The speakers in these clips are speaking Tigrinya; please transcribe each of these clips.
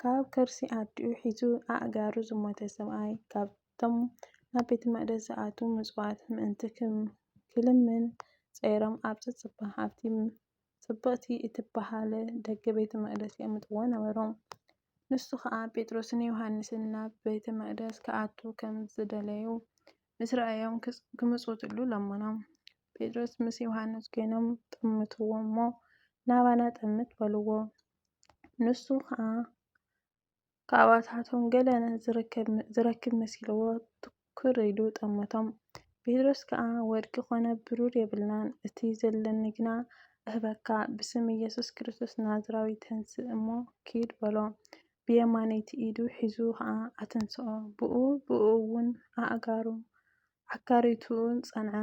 ካብ ከርሲ ኣዲኡ ሒዙ ኣእጋሩ ዝሞተ ሰብኣይ፣ ካብቶም ናብ ቤተ መቕደስ ዝኣትዉ ምጽዋት ምእንቲ ኺልምን ጸይሮም ኣብ ዚጽባሕ ኣብቲ ጽብቕቲ እትበሃል ደገ ቤተ መቕደስ የቕምጥዎ ነበሩ። ንሱ ኸኣ ጴጥሮስን ዮሃንስን ናብ ቤተ መቕደስ ኪኣትዉ ኸም ዝደለዩ ምስ ረኣዮም ኪምጽውትሉ ለመኖም። ጴጥሮስ ምስ ዮሃንስ ኰይኖም ጠመትዎ እሞ፣ ናባና ጠምት በልዎ። ንሱ ኸኣ ካብኣታቶም ገለ ዝረክብ መሲልዎ ትኩር ኢሉ ጠመቶም። ጴጥሮስ ከኣ ወርቂ ዀነ ብሩር የብልናን፣ እቲ ዘለኒ ግና እህበካ፣ ብስም ኢየሱስ ክርስቶስ ናዝራዊ ተንስእ እሞ ኪድ በሎ። ብየማነይቲ ኢዱ ሒዙ ኸኣ ኣተንስኦ፣ ብኡብኡውን ኣእጋሩን ኣካርይቱኡን ጸንዐ።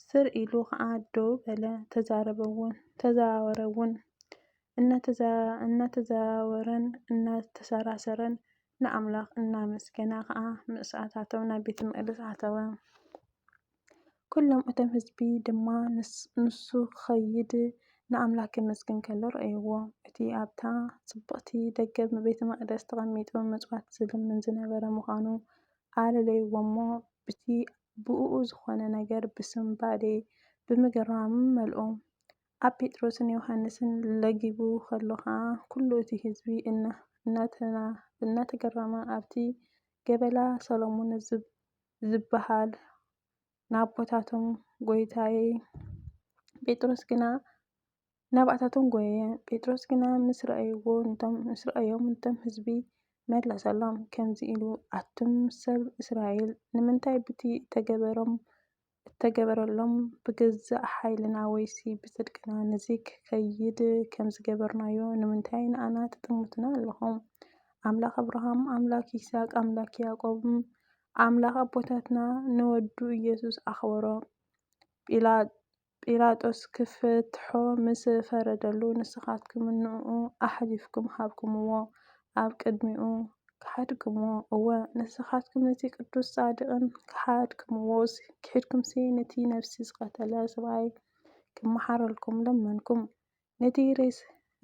ስር ኢሉ ኸኣ ደው በለ፣ ተዛረበውን፣ ተዘዋወረውን። እናተዘዋወረን እናተሰራሰረን ንኣምላኽ እናመስገነ ኸኣ ምስ ኣታቶም ናብ ቤተ መቕደስ ኣተወ። ኵሎም እቶም ህዝቢ ድማ ንሱ ኺኸይድ ንኣምላኽ ኬመስግን ከሎ ረኣይዎ። እቲ ኣብታ ጽብቕቲ ደገ ቤተ መቕደስ ተቐሚጡ መሥዋዕቲ ዚልምን ዝነበረ ምዃኑ ኣለለይዎ'ሞ፣ ብቲ ብእኡ ዝኾነ ነገር ብስንባዴ፣ ብምግራም መልኦ። ኣብ ጴጥሮስን ዮሃንስን ለጊቡ ኸሎ ኸኣ ኩሉ እቲ ህዝቢ እናተገረመ ኣብቲ ገበላ ሰሎሞን ዝበሃል ናቦታቶም ጐይታዬ፣ ጴጥሮስ ግና ናብኣታቶም ጐየየ። ጴጥሮስ ግና ምስ ረኣዮም ነቶም ህዝቢ መለሰሎም ከምዚ ኢሉ፣ ኣቱም ሰብ እስራኤል፣ ንምንታይ ብቲ እተገበረሎም ብገዛእ ሓይልና ወይሲ ብጽድቅና ነዚ ኺከይድ ከም ዝገበርናዮ ንምንታይ ንኣና ትጥምቱና ኣለኹም? ኣምላኽ ኣብርሃም፣ ኣምላኽ ይስሃቅ፣ ኣምላኽ ያዕቆብን ኣምላኽ ኣቦታትና ንወዱ ኢየሱስ ኣኽበሮ። ጲላጦስ ኪፍትሖ ምስ ፈረደሉ፣ ንስኻትኩም ንእኡ ኣሕሊፍኩም ሃብኩምዎ፣ ኣብ ቅድሚኡ ከሓድክምዎ፣ እወ፣ ንስኻትኩም ነቲ ቅዱስን ጻድቕን ከሓድክምዎ፣ ኪሒድኩምሲ ነቲ ነፍሲ ዝቐተለ ሰብኣይ ኪመሓረልኩም ለመንኩም፣ ነቲ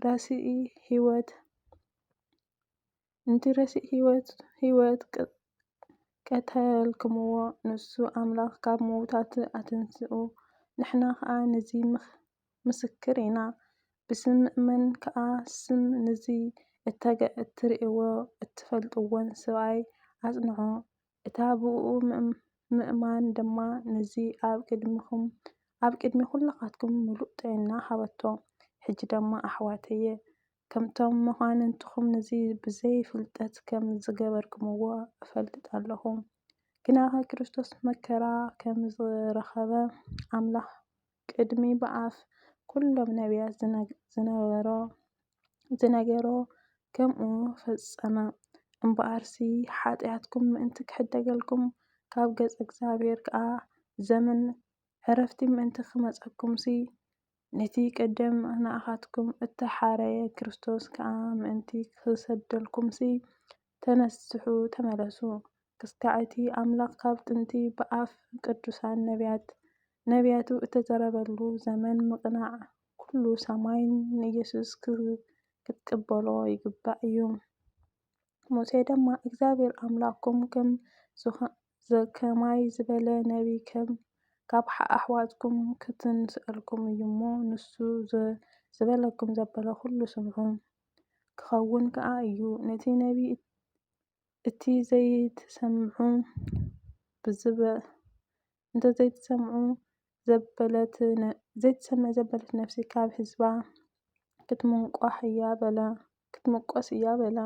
ረሲኢ ህይወት ነቲ ረሲእ ህይወት ቀተልክምዎ፣ ንሱ ኣምላኽ ካብ ምዉታት ኣተንስኡ፣ ንሕና ኸኣ ነዚ ምስክር ኢና፣ ብስም ምእመን ከኣ ስም ነዚ እተርእይዎ እትፈልጥዎን ሰብኣይ ኣጽንዑ፣ እታ ብእኡ ምእማን ድማ ነዚ ኣብ ቅድሚ ኹልኻትኩም ምሉእ ጥዒና ሃበቶ። ሕጂ ድማ ኣሕዋተየ፣ ከምቶም መኳንንትኹም ንዚ ብዘይ ፍልጠት ከም ዝገበርክምዎ እፈልጥ ኣለኹ። ግናኸ ክርስቶስ መከራ ከም ዝረኸበ ኣምላኽ ቅድሚ ብኣፍ ኩሎም ነቢያት ዝነበሮ ዝነገሮ ከምኡ ፈጸመ። እምበኣርሲ ሓጢኣትኩም ምእንቲ ክሕደገልኩም ካብ ገጽ እግዚኣብሔር ከኣ ዘመን ዕረፍቲ ምእንቲ ክመጸኩምሲ ነቲ ቀደም ንኣኻትኩም እተሓረየ ክርስቶስ ከኣ ምእንቲ ኺሰደልኩምሲ፣ ተነስሑ፣ ተመለሱ፣ ክሳዕ እቲ ኣምላኽ ካብ ጥንቲ ብኣፍ ቅዱሳን ነብያት ነብያቱ እተዘረበሉ ዘመን ምቕናዕ ኵሉ ሰማይ ንኢየሱስ ኽትቅበሎ ይግባእ እዩ። ሙሴ ደማ እግዚኣብሔር ኣምላኽኩም ከም ዝዀነ ከማይ ዝበለ ነቢይ ከም ካብ ኣሕዋትኩም ኽትንስኣልኩም እዩ እሞ፣ ንሱ ዝበለኩም ዘበለ ዅሉ ስምዑ። ክኸውን ከኣ እዩ፣ ነቲ ነቢይ እቲ ዘይትሰምዑ እንተ ዘይትሰምዑ፣ ዘይትሰምዕ ዘበለት ነፍሲ ኻብ ህዝባ ኽትምቈስ እያ በላ።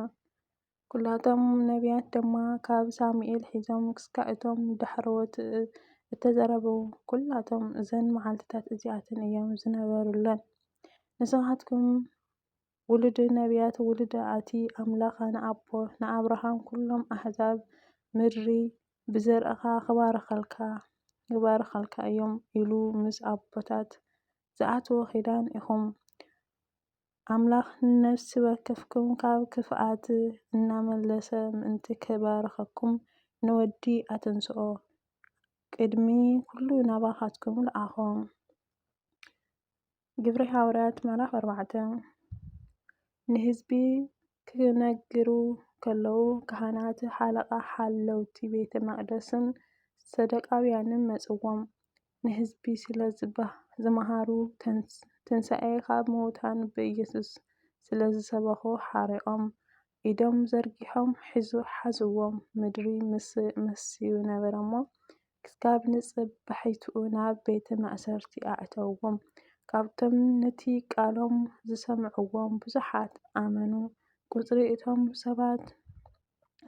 ኵላቶም ነብያት ድማ ካብ ሳሙኤል ሒዞም ክስካዕ እቶም ዳሕረዎት እተዘረበዉ ኵላቶም እዘን መዓልትታት እዚኣተን እዮም ዝነበሩለን። ንስኻትኩም ውሉድ ነብያት ውሉድ ኣቲ ኣምላኽ ንኣቦ ንኣብርሃም ኵሎም ኣሕዛብ ምድሪ ብዘርእኻ ክባርኸልካ ይባርኸልካ እዮም ኢሉ ምስ ኣቦታት ዝኣትዎ ኪዳን ኢኹም። ኣምላኽ ንነፍሲ ወከፍኩም ካብ ክፍኣት እናመለሰ ምእንቲ ኪባርኸኩም፣ ንወዲ ኣተንስኦ፣ ቅድሚ ኵሉ ናባኻትኩም ለኣኾ። ግብሪ ሃዋርያት ምዕራፍ ኣርባዕተ ንህዝቢ ኺነግሩ ኸለዉ፣ ካህናት፣ ሓለቓ ሓለውቲ ቤተ መቕደስን ሰዶቃውያንን መጹዎም። ንህዝቢ ስለ ዝመሃሩ፣ ትንሳኤ ኻብ ምዉታን ብኢየሱስ ስለ ዝሰበኹ ሓሪቖም ኢዶም ዘርጊሖም ሓዝዎም። ምድሪ መሲዩ ነበረ እሞ፣ ክሳብ ንጽባሒቱ ናብ ቤተ ማእሰርቲ ኣእተውዎም። ካብቶም ነቲ ቃሎም ዝሰምዕዎም ብዙሓት ኣመኑ፣ ቍጽሪ እቶም ሰባት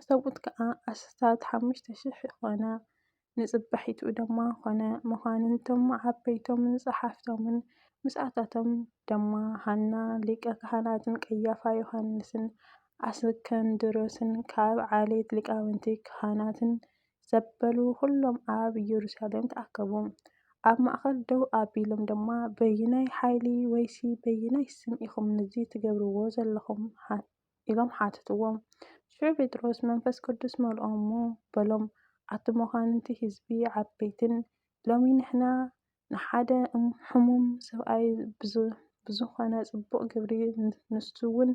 ሰብኡት ከኣ ኣስታት ሓሙሽተ ሽሕ ዀነ። ንጽባሒትኡ ድማ ዀነ፣ መኳንንቶም ዓበይቶምን ጸሓፍቶምን፣ ምስኣቶም ድማ ሃና ሊቀ ኻህናትን ቀያፋ ዮሃንስን ኣስከንድሮስን ካብ ዓሌት ሊቃውንቲ ኻህናትን ዘበሉ ዅሎም ኣብ የሩሳሌም ተኣከቡ። ኣብ ማእከል ደው ኣቢሎም ድማ በየናይ ሓይሊ ወይሲ በየናይ ስም ኢኹም ነዚ ትገብርዎ ዘለኹም? ኢሎም ሓተትዎ። ሽዑ ጴጥሮስ መንፈስ ቅዱስ መልኦ እሞ በሎም፣ ኣቲ መኳንንቲ ሕዝቢ ዓበይትን፣ ሎሚ ንሕና ንሓደ ሕሙም ሰብኣይ ብዝኾነ ጽቡቕ ግብሪ ንሱውን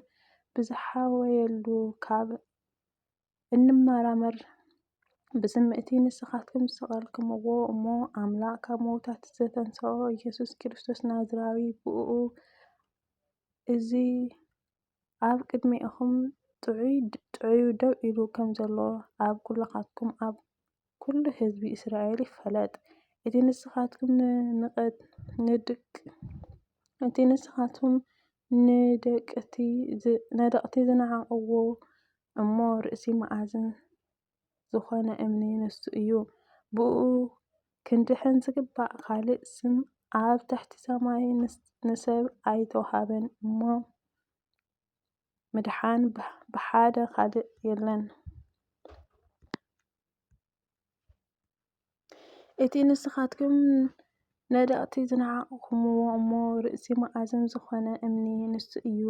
ብዝሓወየሉ ካብ እንመራመር ብዝምእቲ ንስኻትኩም ዝሰቐልክምዎ እሞ ኣምላኽ ካብ መውታት ዘተንሰኦ ኢየሱስ ክርስቶስ ናዝራዊ ብእኡ እዚ ኣብ ቅድሜኹም ጥዑዩ ደው ኢሉ ከም ዘሎ ኣብ ኵላትኩም ኣብ ኵሉ ህዝቢ እስራኤል ይፈለጥ። እቲ ንስኻትኩም ነደቕቲ ዝነዓቕዎ እሞ ርእሲ መኣዝን ዝኾነ እምኒ ንሱ እዩ። ብእኡ ክንድሕን ዝግባእ ካልእ ስም ኣብ ትሕቲ ሰማይ ንሰብ ኣይተውሃበን እሞ፣ ምድሓን ብሓደ ካልእ የለን። እቲ ንስኻትኩም ነደቕቲ ዝነዓቕኹምዎ እሞ ርእሲ መኣዝን ዝኾነ እምኒ ንሱ እዩ።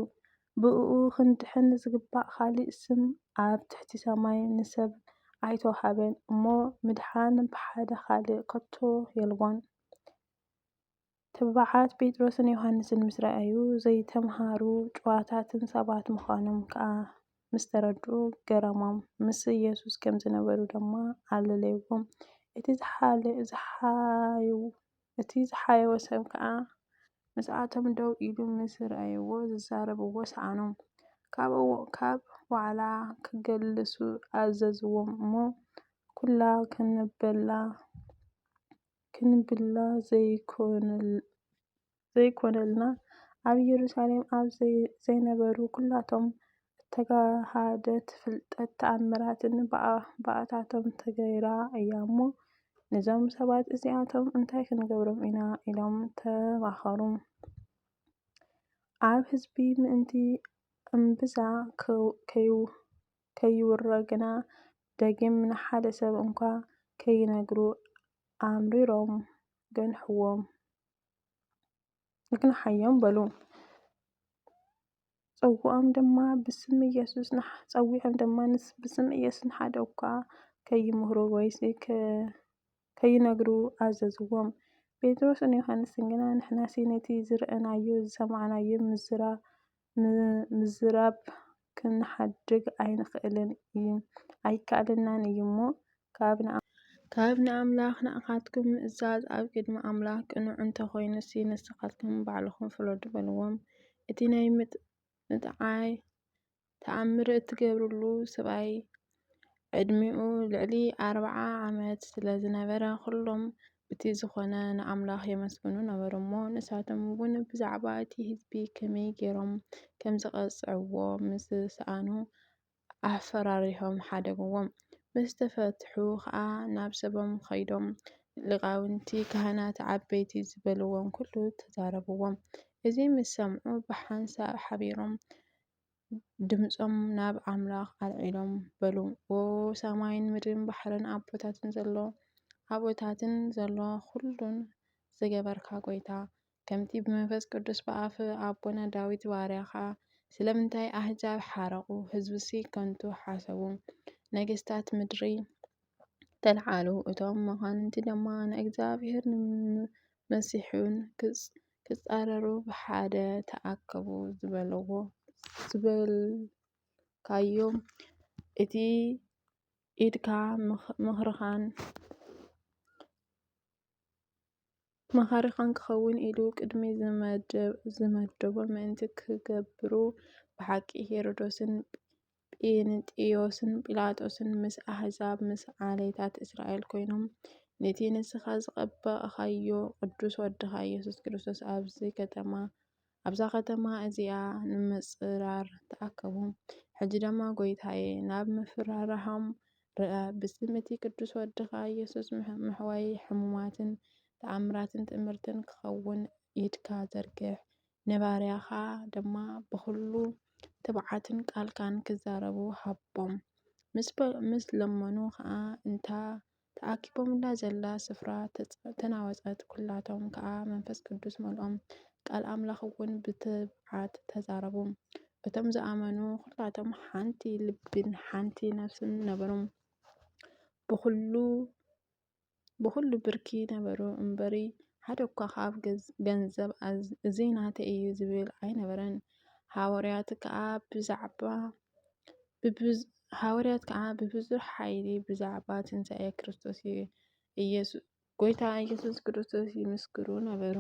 ብእኡ ኽንድሕን ዚግባእ ኻሊእ ስም ኣብ ትሕቲ ሰማይ ንሰብ ኣይተውሃበን እሞ፣ ምድሓን ብሓደ ኻልእ ከቶ የልቦን። ትብዓት ጴጥሮስን ዮሃንስን ምስ ረኣዩ፣ ዘይተምሃሩ ጭዋታትን ሰባት ምዃኖም ከኣ ምስ ተረድኡ ገረሞም፣ ምስ ኢየሱስ ከም ዝነበሩ ድማ ኣለለይዎም። እቲ ዝሓየወ ሰብ ከኣ ምስኣቶም ደው ኢሉ ምስ ረኣይዎ ዝዛረብዎ ሰኣኖም። ካብኡ ካብ ዋዕላ ክግልሱ ኣዘዝዎም እሞ፣ ኵላ ክንበላ ክንብላ ዘይኰነልና፣ ኣብ የሩሳሌም ኣብ ዘይነበሩ ኵላቶም ተጋሃደት ፍልጠት ተኣምራትን ብኣታቶም ተገይራ እያ እሞ፣ ነዞም ሰባት እዚኣቶም እንታይ ክንገብሮም ኢና? ኢሎም ተማኸሩ። ኣብ ህዝቢ ምእንቲ እምብዛ ከይውረ ግና ደጊም ንሓደ ሰብ እንኳ ከይነግሩ ኣምሪሮም ገንሕዎም። ንግንሓዮም በሉ። ጸውዖም ድማ ብስም ኢየሱስ ንሓ- ጸዊዖም ድማ ንስ- ብስም ኢየሱስ ንሓደ እኳ ከይምህሩ ወይሲ ከ- ከይነግሩ ኣዘዝዎም። ጴጥሮስን ዮሐንስን ግና ንሕናሲ ነቲ ዝረኣናዮ ዝሰማዕናዮ ምዝራ- ምዝራብ ክንሓድግ ኣይንኽእልን እዩ ኣይከኣለናን እዩ እሞ ካብ ንኣምላኽ ንኣኻትኩም ምእዛዝ ኣብ ቅድሚ ኣምላኽ ቅኑዕ እንተኾይኑሲ ንስኻትኩም ባዕልኹም ፍረዱ በልዎም። እቲ ናይ ምጥዓይ ተኣምር እትገብርሉ ሰብኣይ ዕድሚኡ ልዕሊ ኣርብዓ ዓመት ስለ ዝነበረ፣ ዅሎም ብቲ ዝዀነ ንኣምላኽ የመስግኑ ነበሩ እሞ፣ ንሳቶም እውን ብዛዕባ እቲ ህዝቢ ኸመይ ገይሮም ከም ዚቐጽዕዎ ምስ ሰኣኑ፣ ኣፈራሪሆም ሓደግዎም። ምስ ተፈትሑ ኸኣ ናብ ሰቦም ኸይዶም፣ ሊቃውንቲ ኻህናት ዓበይቲ ዝበልዎም ዅሉ ተዛረብዎም። እዚ ምስ ሰምዑ ብሓንሳእ ሓቢሮም ድምጾም ናብ ኣምላኽ ኣልዒሎም በሉ። ኦ ሰማይን ምድርን ባሕርን ኣቦታትን ዘሎ ኣቦታትን ዘሎ ዅሉን ዝገበርካ ጐይታ፣ ከምቲ ብመንፈስ ቅዱስ ብኣፍ ኣቦና ዳዊት ባርያኻ ስለምንታይ ኣህዛብ ሓረቑ፣ ህዝብሲ ከንቱ ሓሰቡ፣ ነገስታት ምድሪ ተልዓሉ፣ እቶም መኳንንቲ ድማ ንእግዚኣብሔርን ንመሲሑን ክጻረሩ ብሓደ ተኣከቡ ዝበለዎ ዝበልካዮም እቲ ኢድካ ምኽርኻን መኻሪኻን ክኸውን ኢሉ ቅድሚ ዝመደቦ ምእንቲ ክገብሩ ብሓቂ ሄሮዶስን ጴንጥዮስን ጲላጦስን ምስ ኣሕዛብ ምስ ዓሌታት እስራኤል ኮይኖም ነቲ ንስኻ ዝቐባእኻዮ ቅዱስ ወድኻ ኢየሱስ ክርስቶስ ኣብዚ ከተማ ኣብዛ ከተማ እዚኣ ንምጽራር ተኣከቡ። ሕጂ ድማ ጐይታዬ፣ ናብ ምፍርራሆም ርኣ፣ ብስም እቲ ቅዱስ ወድኻ ኢየሱስ ምሕዋይ ሕሙማትን ተኣምራትን ትእምርትን ክኸውን ኢድካ ዘርግሕ። ንባርያኻ ድማ ብዅሉ ትብዓትን ቃልካን ኪዛረቡ ሃቦም። ምስ ለመኑ ኸኣ፣ እታ ተኣኪቦምላ ዘላ ስፍራ ተናወጸት፣ ኵላቶም ከኣ መንፈስ ቅዱስ መልኦም፣ ቃል ኣምላኽውን ብትብዓት ተዛረቡ። እቶም ዝኣመኑ ዅላቶም ሓንቲ ልብን ሓንቲ ነፍስን ነበሮም፣ ብዅሉ ብኹሉ ብርኪ ነበሩ እምበሪ ሓደ እኳ ኻብ ገንዘብ እዚ ናተይ እዩ ዝብል ኣይነበረን። ሃዋርያት ከዓ ብዛዕባ ሃዋርያት ከዓ ብብዙሕ ሓይሊ ብዛዕባ ትንሣኤ ክርስቶስ ኢየሱስ ጎይታ ኢየሱስ ክርስቶስ ይምስክሩ ነበሩ።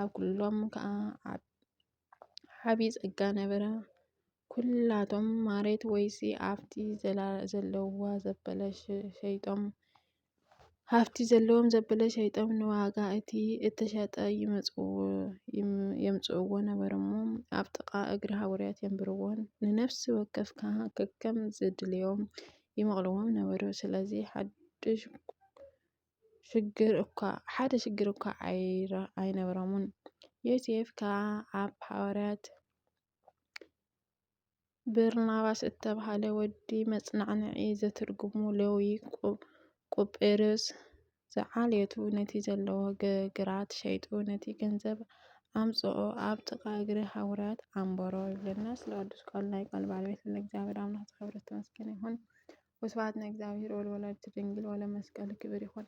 ኣብ ኩሎም ከዓ ዓብዪ ጸጋ ነበረ። ኩላቶም ማሬት ወይሲ ኣብቲ ዘለዋ ዘበለ ሸይጦም ሃፍቲ ዘለዎም ዘበለ ሸይጦም ንዋጋ እቲ እተሸጠ የምጽእዎ ነበሩ እሞ ኣብ ጥቓ እግሪ ሃውርያት የንብርዎን ንነፍሲ ወከፍ ከ ከከም ዝድልዮም ይመቕልዎም ነበሩ። ስለዚ ሓድሽ ሽግር እኳ ሓደ ሽግር እኳ ኣይነበሮምን። ዮሴፍ ከኣ ኣብ ሃዋርያት በርናባስ እተብሃለ ወዲ መጽናዕንዒ ዘትርጉሙ ሌዊ ቊጵርዮስ ዝዓልየቱ ነቲ ዘለዎ ግራት ሸይጡ ነቲ ገንዘብ ኣምጽኦ ኣብ ጥቓ እግሪ ሃዋርያት ኣንበሮ ይብለና ስለ ቅዱስ ቃሉ ናይ ቃል ባለቤት ስለ እግዚኣብሔር ኣምላኽ ዝኸበረ ዝተመስገነ ይኹን ወስብሐት ንእግዚኣብሔር ወለወላዲቱ ድንግል ወለመስቀሉ ክብር ይኹን